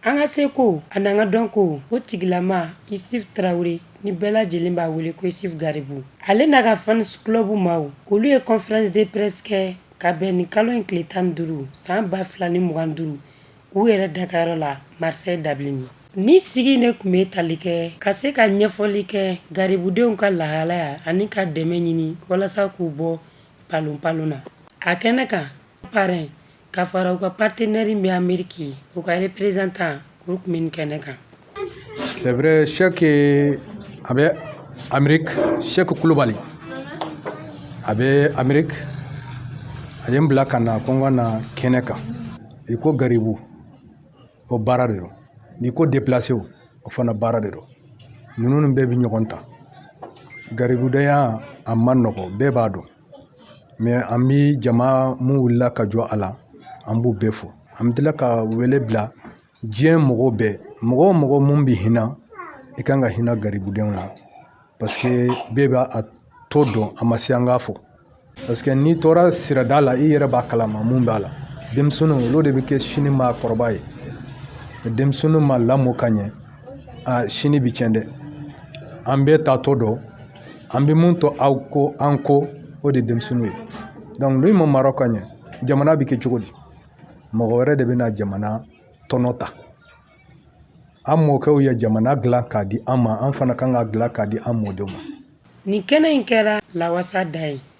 An ka seko an'an ka dɔnko o tigilama Isufu Tarawele ni bɛɛ lajɛlen b'a wele ko Isufu Garibu ale n'a ka fan club maaw olu ye conférence de presse kɛ ka bɛn ni kalo in tile tan duuru san ba fila ni mugan duuru u yɛrɛ dakayɔrɔ la Marseille dabilen ni sigi de tun bɛ tali kɛ ka se ka ɲɛfɔli kɛ garibudenw ka lahalaya ani ka dɛmɛ ɲini walasa k'u bɔ palon palon na a kɛnɛ kan parrain ka fara u ka partenaire min bɛ Ameriki ye u ka représentant olu tun bɛ nin kɛnɛ kan. C'est vrai Sɛki eh, a bɛ Ameriki Sɛki Kulubali a bɛ Ameriki a ye n bila ka na ko n ka na kɛnɛ kan i ko garibu o baara de don n'i ko déplacé o fana baara de don ninnu bɛɛ bɛ ɲɔgɔn ta garibudenya a man nɔgɔn bɛɛ b'a dɔn. an bi jama mun wulila ka jɔ a la an b'u bɛɛ fo an bɛ tila ka wele bila diɲɛ mɔgɔ bɛɛ mɔgɔ o mɔgɔ mun bɛ hinɛ i kan ka hinɛ garibudenw na parce que bɛɛ b'a tɔ dɔn a ma se an k'a fɔ parce que n'i tora sirada la i yɛrɛ b'a kalama mun b'a la denmisɛnninw olu de bɛ kɛ sini maakɔrɔba ye denmisɛnninw ma lamɔ ka ɲɛ a sini bi cɛn dɛ an bɛɛ t'a tɔ dɔn an bɛ mun to aw kɔ an kɔ o de ye denmisɛnninw ye donc n'u ma mara ka ɲɛ jamana bɛ kɛ cogo di mɔgɔ wɛrɛ de bɛna jamana tɔnɔ ta an mɔkɛw ye jamana dilan k'a di an ma an fana kan k'a dilan k'a di an mɔdenw ma nin kɛnɛ in kɛra lawasa da ye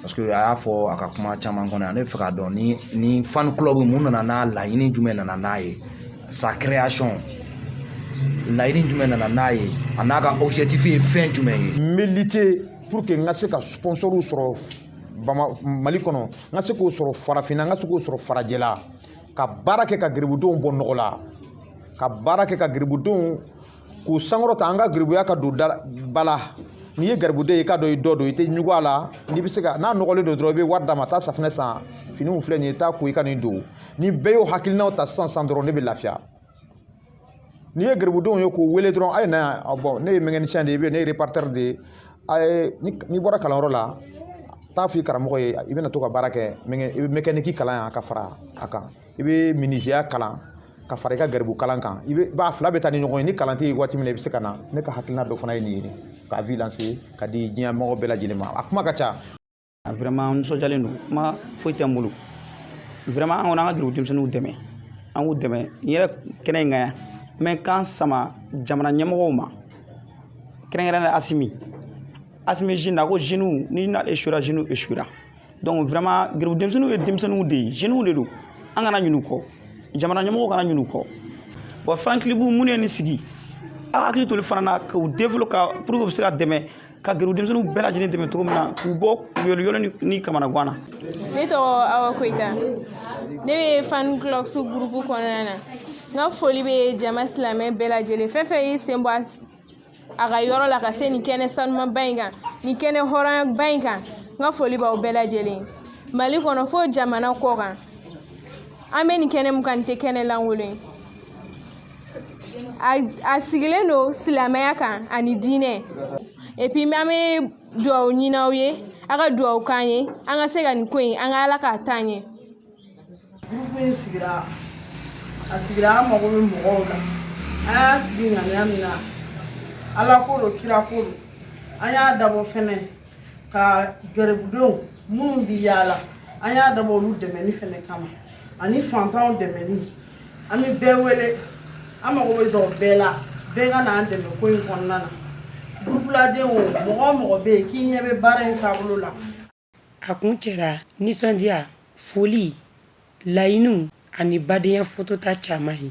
parce que a y'a fɔ a ka kuma caman kɔnɔ yan ne b'a fɛ k'a dɔn ni ni fan club mun nana n'a laɲini jumɛn nana n'a ye sa création laɲini jumɛn nana n'a ye an'a ka objectif ye fɛn jumɛn ye n bɛ lutter pour que n ka se ka sponsoriw sɔrɔ bama mali kɔnɔ n ka se k'o sɔrɔ farafinna n ka se k'o sɔrɔ farajɛla ka baara kɛ ka garibudenw bɔ nɔgɔ la ka baara kɛ ka garibudenw k'u sankɔrɔta an ka garibuya k'a don da ba la n'i ye garibuden ye i k'a dɔn i dɔgɔ don i tɛ ɲugu a la n'i bɛ se ka n'a nɔgɔlen don dɔrɔn i bɛ wari d'a ma taa safinɛ san finiw filɛ nin ye taa ko i ka nin don ni bɛɛ y'o hakilinaw ta sisan sisan dɔrɔn ne bɛ lafiya n'i ye garibudenw ye k'u wele dɔrɔn a ye na yan bon ne ye mécanicien de ye i bɛ ne ye réparateur de ye a ye n'i bɔra kalanyɔrɔ la taa f'i karamɔgɔ ye i bɛna to ka baara kɛ mɛngɛ i bɛ mécanique kalan yan ka fara a kan i bɛ minisiya kalan ka fara i ka garibu kalan kan i b'a fila bɛ taa ni ɲɔgɔn ye ni kalan tɛ yen waati min na i bɛ se ka na ne ka hakilina dɔ fana ye nin ye k'a lancer k'a di diɲɛ mɔgɔ bɛɛ lajɛlen ma a kuma ka ca a vraiment n nisɔndiyalen don kuma foyi tɛ n bolo vraiment an kɔni an ka garibu denmisɛnninw dɛmɛ an k'u dɛmɛ n yɛrɛ kɛnɛ in kan yan n bɛ n kan sama jamana ɲɛmɔgɔw ma kɛrɛnkɛrɛnnenya Asimi Asimi jeune na ko jeunew ni n'ale échouera jeunew échouera donc vraiment garibu denmisɛnninw ye denmisɛnninw de ye jeunes de don an kana ɲin'u kɔ jamana ɲɛmɔgɔw kana ɲin'u kɔ bon fan club min ye nin sigi aw hakili to olu fana na k'u développer pour que u bɛ se ka dɛmɛ ka garibu denmisɛnninw bɛɛ lajɛlen dɛmɛ cogo min na k'u bɔ yoliyoli ni kamanagan na ne tɔgɔ awa koyita ne bɛ fan clubs gurupu kɔnɔna na n ka foli bɛ jama silamɛ bɛɛ lajɛlen fɛn fɛn y'i sen bɔ a s- a ka yɔrɔ la ka se nin kɛnɛ sanumaba in kan nin kɛnɛ hɔrɔnyaba in kan n ka foli b'aw bɛɛ lajɛlen ye mali kɔnɔ fo jamana kɔkan an bɛ nin kɛnɛ mun kan nin tɛ kɛnɛ lankolon ye a sigilen don silamɛya kan ani diinɛ epi an bɛ dugawu ɲini aw ye a ka dugawu k'an ye an ka se ka nin ko in an ka ala k'a taa ɲɛ in sigira a sigira an mago bɛ mɔgɔw la an y'a sigi ŋaniya min na ala ko don kira ko don an y'a dabɔ fɛnɛ ka garibudenw minnu bi yaala an y'a dabɔ olu dɛmɛni fɛnɛ kama ani fantanw dɛmɛni an bɛ bɛɛ wele an mago bɛ jɔ bɛɛ la bɛɛ ka n'an dɛmɛ ko in kɔnɔna na gurupuladenw mɔgɔ o mɔgɔ bɛ yen k'i ɲɛ bɛ baara in taabolo la a kuncɛra nisɔndiya foli laɲiniw ani badenya fotota caman ye